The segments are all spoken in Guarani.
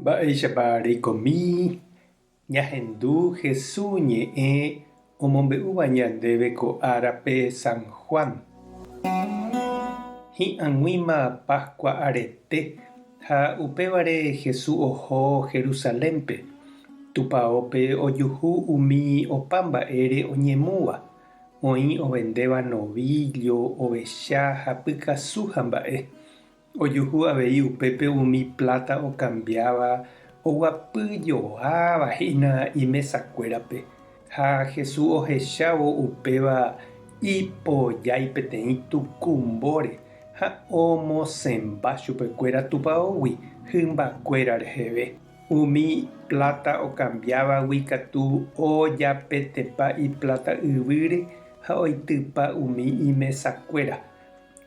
Mba'éichapa reikomi ñahendu Hesu ñe'ẽ omombe'úva ñandéve ko árape San Juan? Hi'ag̃uíma Pascua arete ha upévare Hesu oho Jerusalénpe, tupaópe ojuhu umi opa mba'ére oñemúva, oĩ ovendéva novíllo, ovecha ha pykasu ha mba'e. Ojuhu avei upépe umi pláta okambiáva oguapy joáva hína imesakuérape, ha Jesús ohechávo upéva ipojái peteĩ tuku mbóre ha omosẽmba chupekuéra tupaógui hymbakuéra reheve. Umi pláta okambiávagui katu ojapetepa ipláta yvýre ha oitypa umi imesakuéra.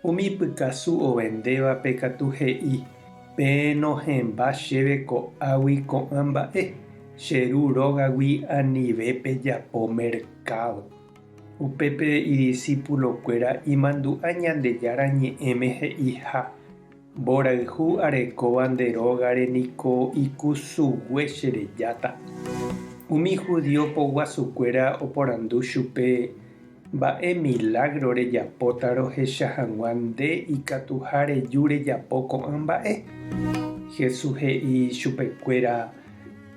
Umi pykasu ovendévape katu he'i, Pe nohẽmba chéve ko'águi ko'ã mba'e, che ru rógagui anive pejapo merkádo. Upépe idisipulokuéra imandu'a Ñandejára Ñe'ẽme he'iha, Mborayhu arekóva nde rógare niko ikusugue che rejáta. Umi judío poguasukuéra oporandu chupe, Mba'e milágro rejapóta rohecha hag̃ua nde ikatuha reju rejapo ko'ã mba'e? Jesús he'i chupekuéra,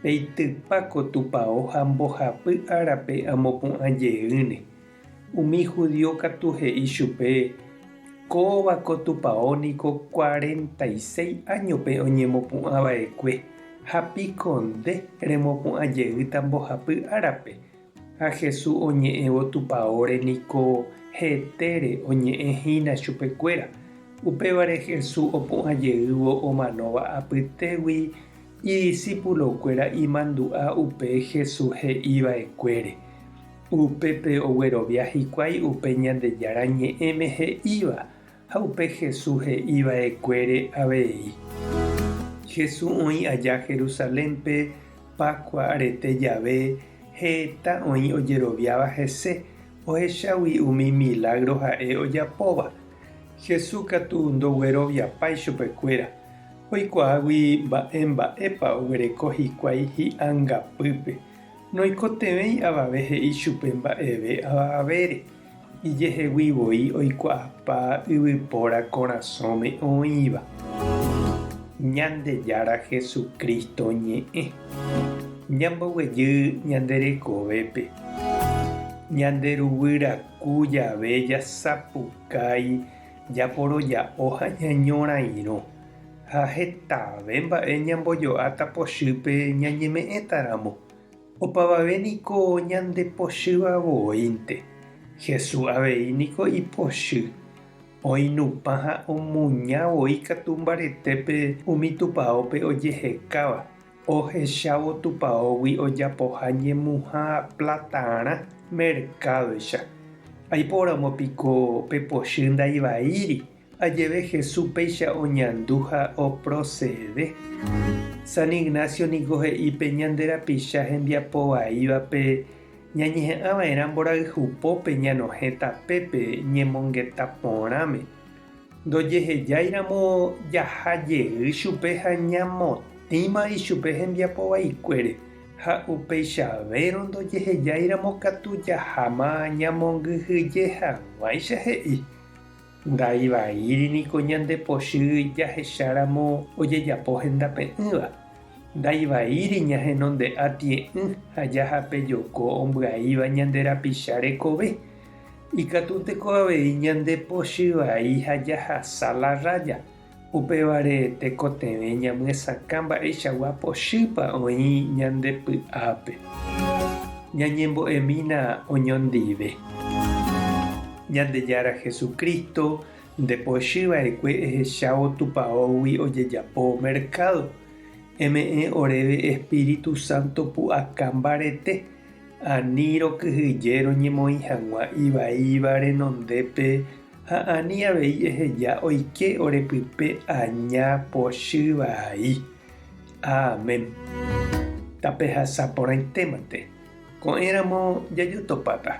Peitypa ko tupao ha mbohapy árape amopu'ã jeýne. Umi judío katu he'i chupe, Kóva ko tupao niko cuarenta y seis áñope oñemopu'ã va'ekue, ha piko nde remopu'ã jeýta mbohapy árape? Ha Jesús oñe'ẽvo Tupaóre niko hetére oñe'ẽ hína chupekuéra. Upévare Jesús opu'ã jeývo omanóva apytégui idisípulokuéra imandu'a upe Jesús he'i va'ekuére. Upépe oguerovia hikuái upe Ñandejára Ñe'ẽme he'íva Ha upe Hesu he'i va'ekuére avei. Hesu oĩ aja Jerusalénpe Páskua rete jave, heta oĩ ojeroviáva hese, ohechágui umi milágro ha'e ojapóva. Hesu katu ndogueroviapái chupekuéra, oikuaágui mba'e mba'épa oguereko hikuái hi'angapýpe, noikotevẽi avave he'i chupe mba'eve avavére. Ijehegui voi oikuaapa yvypóra korasõme oĩva, Ñandejára Jesucristo ñe'ẽ. Ñamboguejy ñande rekovépe, ñanderuguýraku jave jasapukái japoroja'o ha ñañorairõ, ha hetave mba'e ñambojo'áta pochýpe ñañeme'ẽtaramo. Opavave niko ñandepochýva voínte. Jesús avei niko ipochy. Oinupã ha omuña voi katu mbaretépe umi tupaópe ojehekáva, ohechávo tupaógui ojapoha ñemuha platarã merkádoicha. Aiporamo piko pe pochy ndaivaíri Ha jeve Jesús péicha oñandu ha oprosede, San Ignacio niko he'i pe ñande rapicha hembiapo vaívape ñañeha'ã va'erã mborayhu pópe ñanohẽ tapépe ñemongeta porãme. Ndojehejáiramo jaha jey chupe ha ñamotĩma ichupe hembiapo vaikuére, ha upeichavérõ ndojehejáiramo katu jaháma ñamongyhyje hag̃uáicha he'i. Ndai vaíri niko ñande pochy jahecháramo ojejapo hendape'ỹva. Ndai vaíri ñahenonde'a tie'ỹ ha jahape joko ombyaíva ñande rapicha rekove. Ikatúnteko avei ñande pochy vai ha jahasa la raya. Upévare tekotevẽ ñamyesakã mba'eichagua pochýpa oĩ ñande py'ápe. Ñañembo'emína oñondive. Ñandejára Jesucristo nde pochy va'ekue ehechávo tupaógui ojejapo mercado. Eme'ẽ oréve Espíritu Santo pu'aka mbarete, ani rokyhyje roñemoĩ hag̃ua ivaíva renondépe Ha ani avei eheja oike ore pype aña pochy vai. Amen. Tapehasa porãitémante. Ko'ẽ ramo jajotopáta.